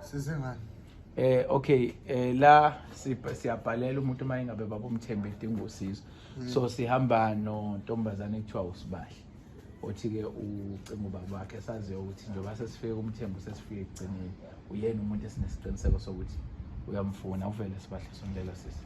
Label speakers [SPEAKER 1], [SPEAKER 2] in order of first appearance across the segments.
[SPEAKER 1] sizengani eh
[SPEAKER 2] okay eh la siyabhalela umuntu uma ingabe babomthembe edinga usizo mm. so sihamba nontombazane ekuthiwa usibahle othi-ke ucinga ubaba wakhe saziyo ukuthi njengoba sesifike kumthembu sesifike ekugcineni uyena umuntu esinesiqiniseko sokuthi uyamfuna uvele sibahle sondela sisi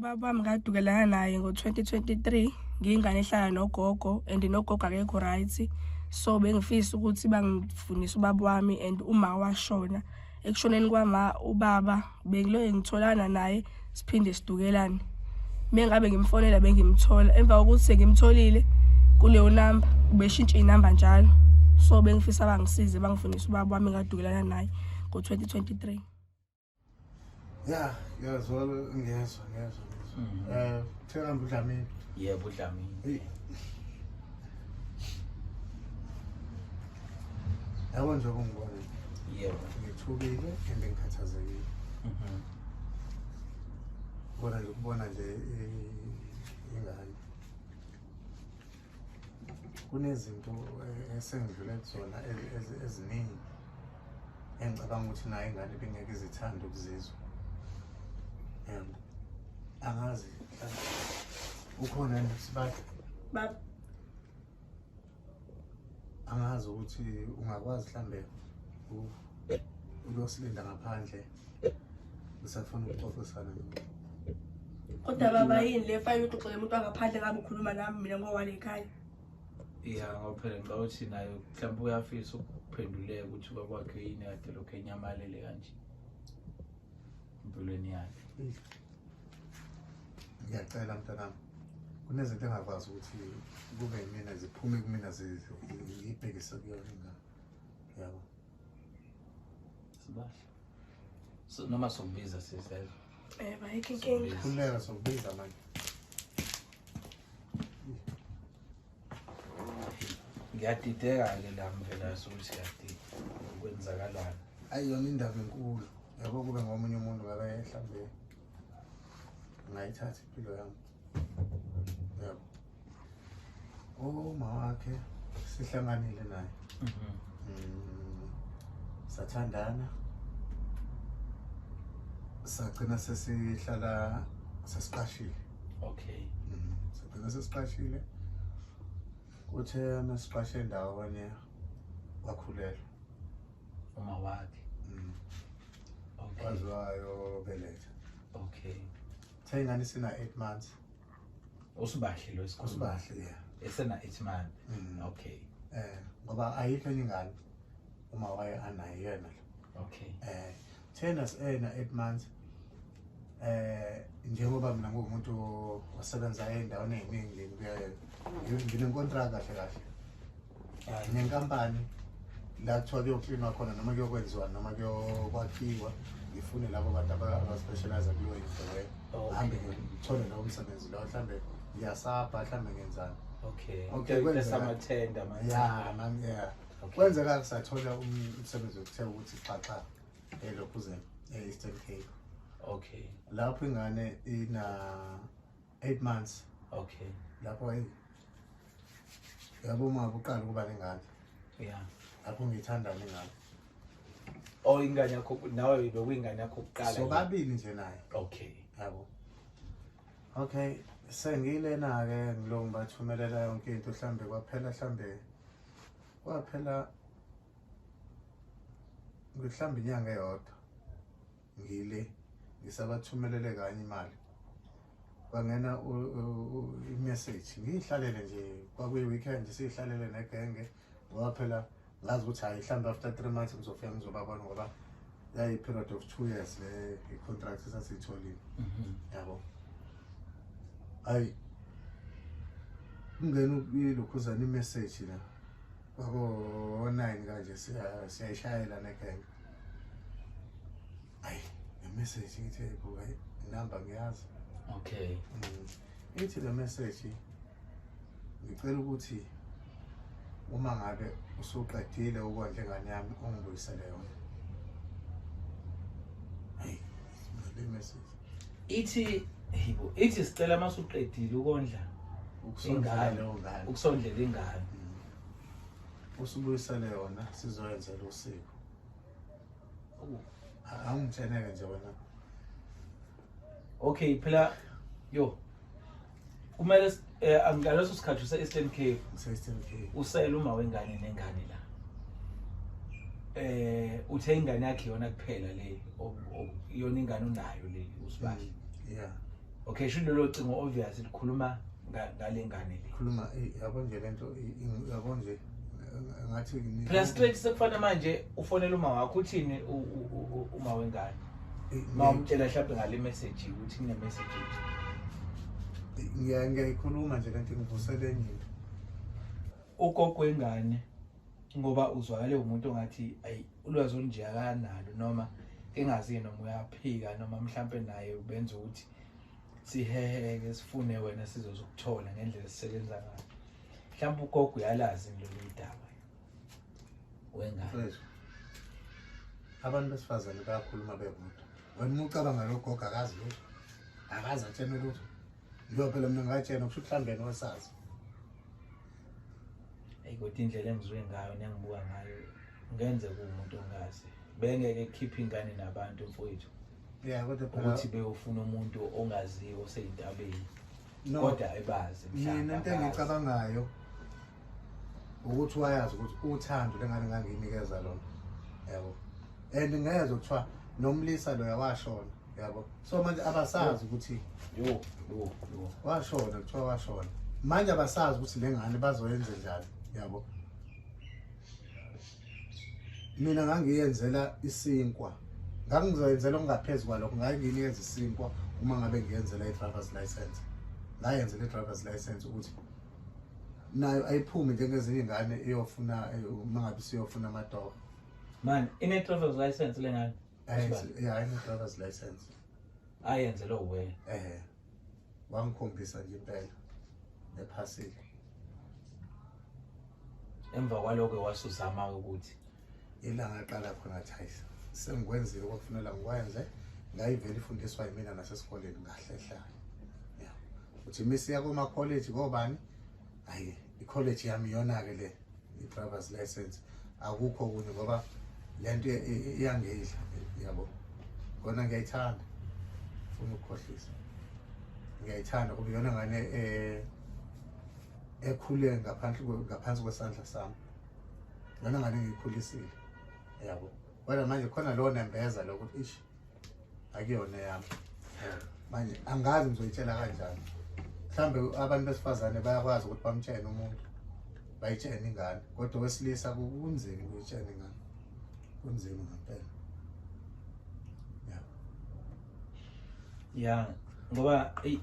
[SPEAKER 3] ubaba wami ngadukelana naye ngo-2023 ngiyingane ehlala nogogo and nogogo akekho right so bengifisa ukuthi bangifundise ubaba wami and uma washona ekushoneni kwama ubaba bengiloye ngitholana naye siphinde sidukelane mengabe ngimfonela bengimthola emva kokuthi sengimtholile kuleyo namba ubeshintshe inamba njalo so bengifisa bangisize bangifundise ubaba wami ngadukelana naye ngo-2023
[SPEAKER 1] ya ngiyazwa ngiyezwa ngiyezwa mhm. eh thekamba udlamini yebo
[SPEAKER 2] udlamini
[SPEAKER 1] yabo nje kungibona yebo
[SPEAKER 2] ngithukile
[SPEAKER 1] and ngikhathazekile mhm. bona nje ukubona nje ingane kunezinto eh, esengidlule kuzona eziningi engicabanga ukuthi naye ingane bengeke izithanda ukuzizwa um angazi ukhona nesibadi baba angazi ukuthi ungakwazi mhlambe uyosilinda ngaphandle Usafuna ukuxoxisana nami. Kodwa
[SPEAKER 3] baba yini le fayini uxoxele umuntu angaphandle ngabe ukhuluma nami mina ngowale ekhaya. Yeah,
[SPEAKER 2] ngoba phela ngicabanga ukuthi nayo mhlawumbe uyafisa ukuphenduleka ukuthi baba wakhe yini kade lokhu enyamalele kanje. Impilweni yakhe.
[SPEAKER 1] Ngiyacela mntanami. Kunezinto engakwazi ukuthi kube yimina ziphume kumina zibhekise kuyona ingane. Yabo. Sibahle.
[SPEAKER 2] So, noma sokubiza sizelo. Eh bayikho
[SPEAKER 3] inkinga. Kuleka sokubiza
[SPEAKER 1] manje.
[SPEAKER 2] Ngiyadideka ke la mvela sokuthi yadideka ukwenzakalana. Ayi yona indaba
[SPEAKER 1] enkulu. Yabo kube ngomunye umuntu ngabe ehlambe. ngayithatha impilo yami yebo uma wakhe sihlanganile naye mhm. mm, sathandana sagcina sesihlala sesiqashile okay
[SPEAKER 2] mm, sagcina
[SPEAKER 1] sesiqashile kuthe masiqashe ndawo kanye wakhulelwa
[SPEAKER 2] uma wakhe Okay. Waze wayobeletha.
[SPEAKER 1] Okay.
[SPEAKER 2] Cha ingane
[SPEAKER 1] sina 8 months. Usibahle
[SPEAKER 2] lo isikhulu. Usibahle yeah. Esena
[SPEAKER 1] 8 months.
[SPEAKER 2] Mm. Okay. Eh ngoba
[SPEAKER 1] ayikho enye ingane uma waye anayo yena. Okay. Eh
[SPEAKER 2] thena
[SPEAKER 1] sena 8 months. eh njengoba mina ngumuntu osebenza endaweni eziningi ngiyayenza nginenkontraka kahle kahle eh, nenkampani la kuthiwa kuyoklinwa khona noma kuyokwenziwa noma kuyokwakhiwa ngifune labo bantu abaspecialize kuleyo into leyo oh, hambe ngithole lowo msebenzi lowo mhlawumbe ngiyasabha mhlawumbe ngenzani okay okay
[SPEAKER 2] kwenzeka manje yeah
[SPEAKER 1] kwenzeka ngisathola umsebenzi okuthe ukuthi xaxa elokhuzela eh, eastern cape okay
[SPEAKER 2] lapho ingane
[SPEAKER 1] ina 8 months okay lapho
[SPEAKER 2] hey
[SPEAKER 1] yabo uma kuqala ukuba nengane yeah
[SPEAKER 2] lapho ngithanda
[SPEAKER 1] ngingane
[SPEAKER 2] oh ingane yakho nawe bekuyingane yakho kuqala so babili nje naye
[SPEAKER 1] okay yabo okay sengilena ke ngilongibathumelela yonke into mhlambe kwaphela mhlambe kwaphela ngihlamba inyanga eyodwa ngile ngisabathumelele kanye imali kwangena i-message ngiyihlalele nje kwakuyi-weekend siyihlalele negenge ngoba phela ngazi ukuthi hayi mhlawumbe after three months ngizofika ngizobabona ngoba yayi-period of two years le i-contract esasiyitholile mhm. yabo hayi kungena ilokhuzana i-message la Bako-nine kanje siyayishayela negenge. Ayi, le message ngithe buka inamba ngiyazi.
[SPEAKER 2] Okay. Mm.
[SPEAKER 1] Ithi le message ngicela ukuthi uma ngabe usuqedile ukondla ingane yami ungibuyisele yona. ithi
[SPEAKER 2] ithi sicela uma suqedile ukondla ingane
[SPEAKER 1] ukusondlela ingane
[SPEAKER 2] mm. usubuyisele
[SPEAKER 1] yona sizoyenzela usiko angitheneke nje wena
[SPEAKER 2] okay phela yo kumele eh, ngaleso sikhathi use-eastern cape use-eastern cape usele uma wengane nengane la eh uthe ingane yakhe yona kuphela le yona ingane unayo le usibali mm, yeah
[SPEAKER 1] okay sho lelo
[SPEAKER 2] cingo obvious likhuluma ngale ngane le khuluma eh, yabo nje
[SPEAKER 1] lento yabo nje ngathi plus straight
[SPEAKER 2] sekufana manje ufonela uma wakho uthini uma wengane uma umtshela mhlawumbe ngale message ukuthi kune message
[SPEAKER 1] ngiyayikhuluma nje kanti ngivusele endlini
[SPEAKER 2] ugogo wengane ngoba uzwakale umuntu ongathi ayi ulwazi olunje akanalo noma engazi noma uyaphika noma mhlampe naye ubenza ukuthi siheheke sifune wena sizozokuthola ngendlela esisebenza ngayo mhlawumbe ugogo uyalazi lolu daba wengane
[SPEAKER 1] abantu besifazane bayakhuluma bebodwa wena uma ucabanga logogo akazi lutho akazi atshene lutho njengoba phela mina ngatshena kusho ukuhlambeni wesazi
[SPEAKER 2] eyi kodwa indlela engizwe ngayo nengibuka ngayo ngenze kuwumuntu ongazi bengeke kukhiphe ingane nabantu mfowethu ya kodwa
[SPEAKER 1] phela ukuthi beyofuna umuntu
[SPEAKER 2] ongaziyo oseyintabeni no kodwa ebazi mina mhlawumbe into abazi.
[SPEAKER 1] engiyicabangayo ukuthi wayazi ukuthi uthando lengane ngangiyinikeza lona yabo and ngeze kuthiwa nomlisa loya washona yabo so manje abasazi ukuthi yo yo yo washona kuthiwa washona manje abasazi ukuthi le ngane bazoyenze njani yabo mina ngangiyenzela isinkwa ngangizoyenzela okungaphezu kwalokho nganginikeza isinkwa uma ngabe ngiyenzela i-driver's license ngayenzela i-driver's license ukuthi nayo ayiphume njengezinye ingane iyofuna mangabe siyofuna amatoho man
[SPEAKER 2] ine driver's license lengane yeah ine
[SPEAKER 1] driver's license ayenze
[SPEAKER 2] lo we eh
[SPEAKER 1] wangikhombisa nje impela ephasile
[SPEAKER 2] emva kwaloko wasuzama ukuthi ilanga aqala
[SPEAKER 1] khona athi hayi sengikwenzile kwakufunela ngikwenze ngayivela ifundiswa yimina nasesikoleni ngahlehlayo ya uthi misi yakoma college ngobani hayi i-college yami iyona-ke le i-driver's license akukho kunye ngoba le nto iyangidla yabo kona ngiyayithanda funa ukukhohlisa ngiyayithanda kuba iyona ngane um ekhule ngaphansi kwesandla sami lona ngane ngikhulisile yabo kodwa manje khona lowo nembeza lokuthi ish akuyona yami manje angazi ngizoyitshela kanjani mhlawumbe abantu besifazane bayakwazi ukuthi bamtshene umuntu bayitshene ingane kodwa owesilisa kunzima ukuyitshena ingane kunzima ngempela
[SPEAKER 2] ya ngoba eyi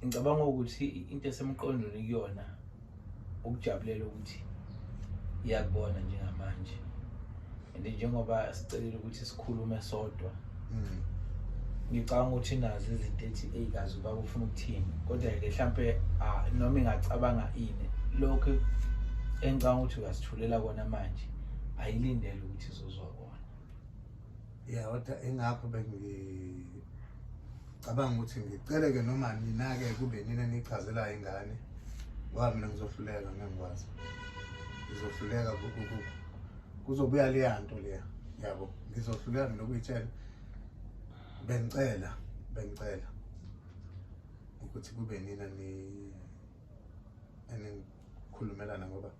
[SPEAKER 2] ngicabanga ukuthi into esemqondweni kuyona ukujabulela ukuthi iyakubona njengamanje and njengoba sicelile ukuthi sikhulume sodwa mm. ngicabanga ukuthi nazo izinto ethi eyi kazi uba ufuna ukuthini kodwa-ke mhlampe ah, noma ingacabanga ini lokhu engicabanga ukuthi uyasithulela kona manje ayilindele ukuthi izozwa kona
[SPEAKER 1] ya kodwa ingakho bengicabanga ukuthi ngiceleke noma nina-ke kube nina nichazelayo ingane ngoba mina ngizohluleka ngengikwazi ngizohluleka kuzobuya leya nto leya yabo ngizohluleka mina ukuyitshela bengicela bengicela ukuthi kube nina ni enikhulumelana ngoba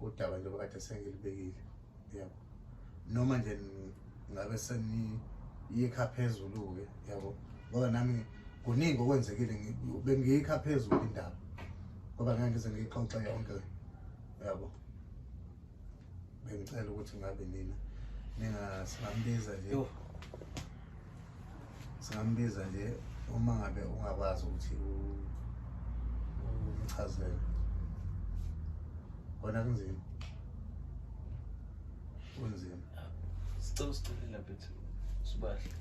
[SPEAKER 1] udaba njengoba kade sengilibekile yabo noma nje ngabe seniyikha phezulu-ke yabo ngoba nami kuningi okwenzekile bengiyikha phezulu indaba ngoba ngeke ngize ngiyixoxe yonke yabo bengicela ukuthi ngabe nina ninga singambiza nje singambiza nje uma ngabe ungakwazi ukuthi umchazele kona kunzima
[SPEAKER 2] kunzima sicela usicelela bethu sibahle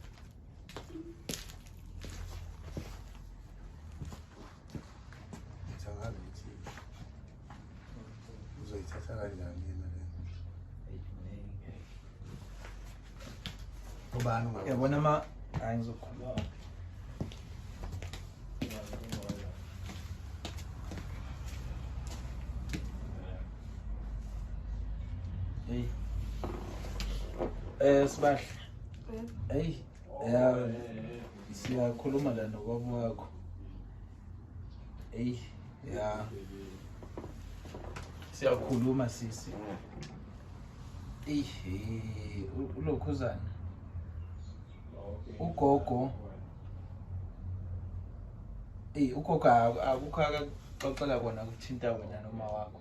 [SPEAKER 1] uzoyithatha kanjani yena le ubani yabona ma hayi
[SPEAKER 2] ngizokhuluma Hey. Eh sibahle. Hey. Yeah. Siyakhuluma la nokwabo wakho. eyi ya siyakhuluma sisi eyi ulokhuzana ugogo eyi ugogo akukho akaxoxela kona kuthinta wena noma wakho